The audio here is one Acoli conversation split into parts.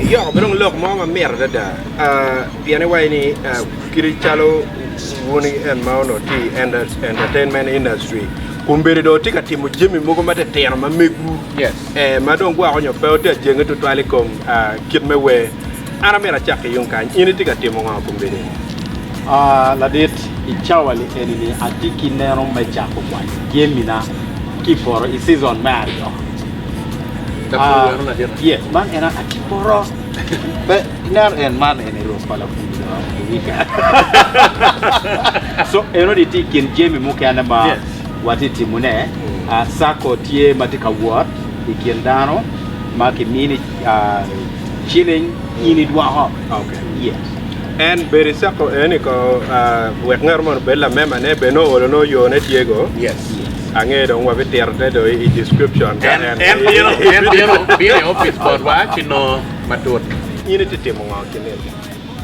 Iyo, wadong lok mo ma mit adada pien iwaci ni kadi calo wun en ma onongo tye i entertainment industry kun bene dong watye ka timo jami mogo matitino ma megu ma dong gwoko nyo pe watye ka jenge tutwal i kom kit me wer. An amyero acak ki yung kany. In itye ka timo nga i kom bedo ni? Aa, ladit, i cawa-ni eni-ni atye ki neno me cako kwanyo jemina ki i poto i cizon me aryo. Lapur weno ladita? Aa, ye, man en aa ki i poto. Pe, ineno, en man eni rok pa lapur jo i wika. So, enoni tye i kin jemi mukene ma watye ka timone. Aa, cako tye ma tye ka wot i kin dano ma kimini. ciling in idwoko. En bedo i circle eni ko wek ngat moni obed lamemba ne bed nongo olo nongo yo ne tye go ange dong wa bitito ne do i description ka en en bino en bino bino i office botwa ci nongo matut. In iti timo ngo ki nino?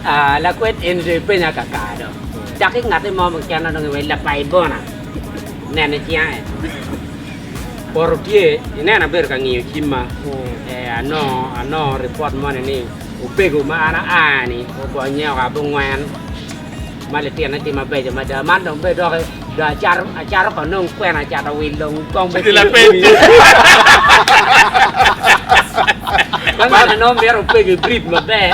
Aa lakwed eni do ipenya kakar do dok ingati mo mukene dong iwec lapayi bona nene cinga en. Poto tye i neno abedo ka ngiyo cimma eh, anongo anongo ripot moni ni opego ma an aa ni ogonye oa bungwen ma litine tye mabeco mada man dong bene doki dong acato acato ka nongo kwena acato wil dong kong bene Cilo pe tye. Kong bene nongo mito opego i breed maber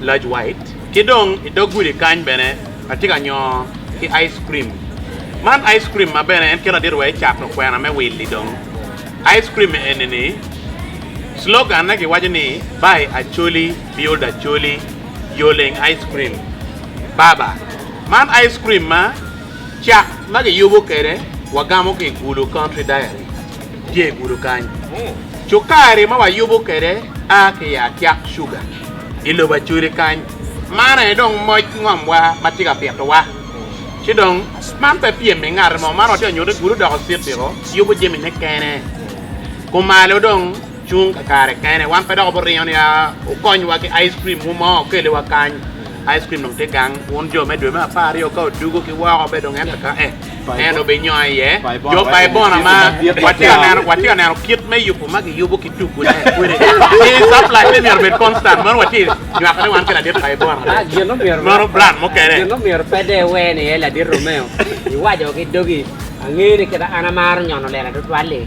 Lodge White, ki dong i dog gudi kany bene atye ka nyoo ki ice cream. Man ice cream ma bene en keto adit wa ecato kwena me willi dong. Ice cream eni ni slogan ne giwaco ni Buy Acholi Build Acholi Yoleng Ice Cream Baba. Man ice cream ma cak ma giyubo kwede wagamo ki i Gulu Country Dairy tye i Gulu kany. Cukari ma wayubo kwede a ki i Atyak Sugar. i lobo acwiri kany. Man aye dong moc ngomwa ma tye ka pitowa. Ci dong, man pe pyem pi ngat mo, man watye ka nyutte gudo doko citiko yubo jamine kene, kumalo dong cung kakare kene. Wan pe dok wabiringo ni a wukonywa ki ice cream mo ma okeliwa kany. Ice cream dong tye gang, wun jo me dwe me apar aryo ka odugo ki woko, bedo dong en kaka-e. en obinyongo iye jo pa Ibona ma watye ka neno kit me yubo ma kiyubo ki tugune kwede. Ci caplacne myero obed konstan, meno watye ka nywako ni wan ki ladit pa Ibona bene, meno bran mukene. Gin myero pe de iwer ni iye ladit Romeo, iwaco ki dogi, Angeyo ni kite an amaro nyono lela tutwal-li.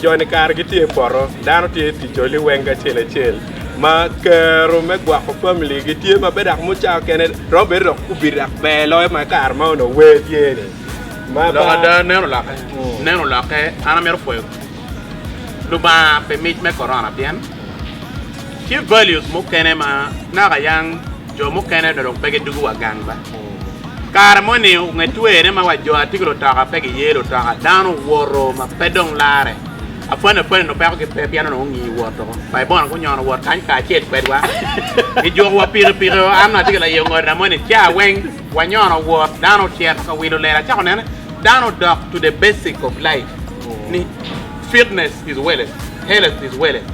Jo-ni kare gitye i poto, dano tye ka tic oli weng acel acel ma kero me gwoko familigi tye ma bedo dok mucawa kene romo bedo dok kubido dok ber loyo ma kare ma onongo wer tye-ni. Ma Lok ba- ada, neno lokke. Neno lokke, an amito pwoyo Lubanga pi mic me korona pien tye values mukene ma naka yang jo mukene dong pe gidugo wa gang ba. Kare moni nge twene ma wa jo atika lutoka pe giye lutoka, dano owoto ma pe dong lare. Apwani apwani onongo peko gi pe pien onongo ongi woto. Bai bono gunyono wot kany kacel kwedwa. Gijuko wa pikipiki o, an atye ki laye ongodo na moni ca weng wanyono wot. Dano ocito ka wilo lela acako nene dano odok to the basic of life ni fitness is welleth, health is welleth.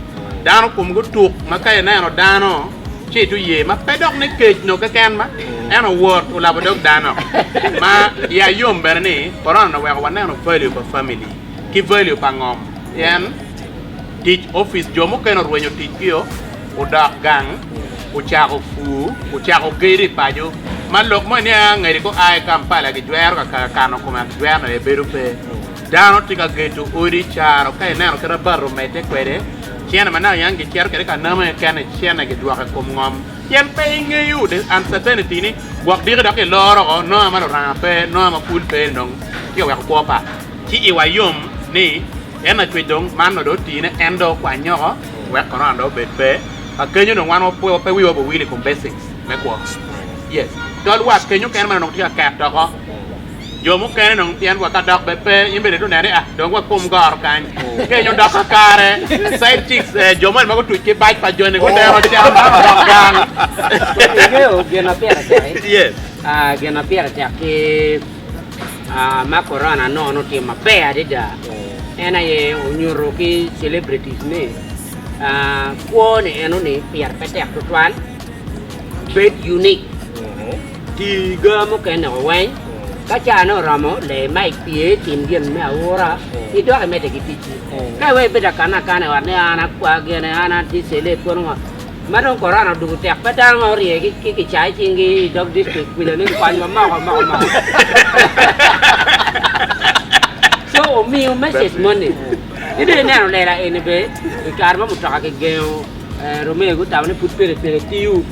Dano komgi otuk ma ka ineno dano. Ci i tu yee ma pe dok ni kec noo keken ma, en owot olabo dog dano. Ma ya yom bene ni, Corona-ni oweko waneno value pa famili ki value pa ngom pien tic opic jo mukene orwenyo ticgio, odok gang, ocako pur, ocako gedo i paco. Ma lok mo eniang angedi ka oa i Kampala gijwero ka kaka kano kome ento jwero-ni aye bedo pe. Dano tye ka gedo odi caro ka ineno kit ma bati omedde kwede. Cene ma naka yang gicito kwede ka namo aye kene cene gidwoko i kom ngom, pien pe ingeyo the uncertainty ni gwok diki dok iloro oko nongo ma luranga pe, nongo ma pul pe ni dong tye ka weko kwo pa. Ci iwa yom ni en Lacwec dong man nongo dong otii ne en dong okwanye oko wek korona dong obed pe. Ka kenyo dong wan pe wiwa obowil i kom basics me kwo. Yes, tol wat kenyo kene ma nongo tye ka ket oko. Jo mukene dong pien wa ka dok bed pe in bene ituneno ni ah dong wa kom goro kany kenyo dok kakare side chicks eh jo moni ma gutuc ki bac pa joni gudero cam dano odok gang. Ingeyo gin ma pire tek-ki? Yes. Ah, gin ma pire tek ki ah, ma Corona nongo nongo tye maber adada en aye onyuto ki celebrities ni ah, kwo ni eno ni pire pe tek tutwal, bed unique. Ti ga mukene woko weny. Ka cane oromo, le ma ipye, tim gin me aura, idok imedde ki ticci. Ka iweyo ibed akan akan i ot ni an akwa gene, an atye cele pwod ngo, ma dong korona odwogo tek, pe dano ma orye ki kicaa i cingi i dog distrik kwija ni konywa moko moko moko. Co omiyo message moni. Ci dong ineno lela eni bene, i kare ma mutoka kigengo, Romeo gutamo ni pud pelepele tiyo.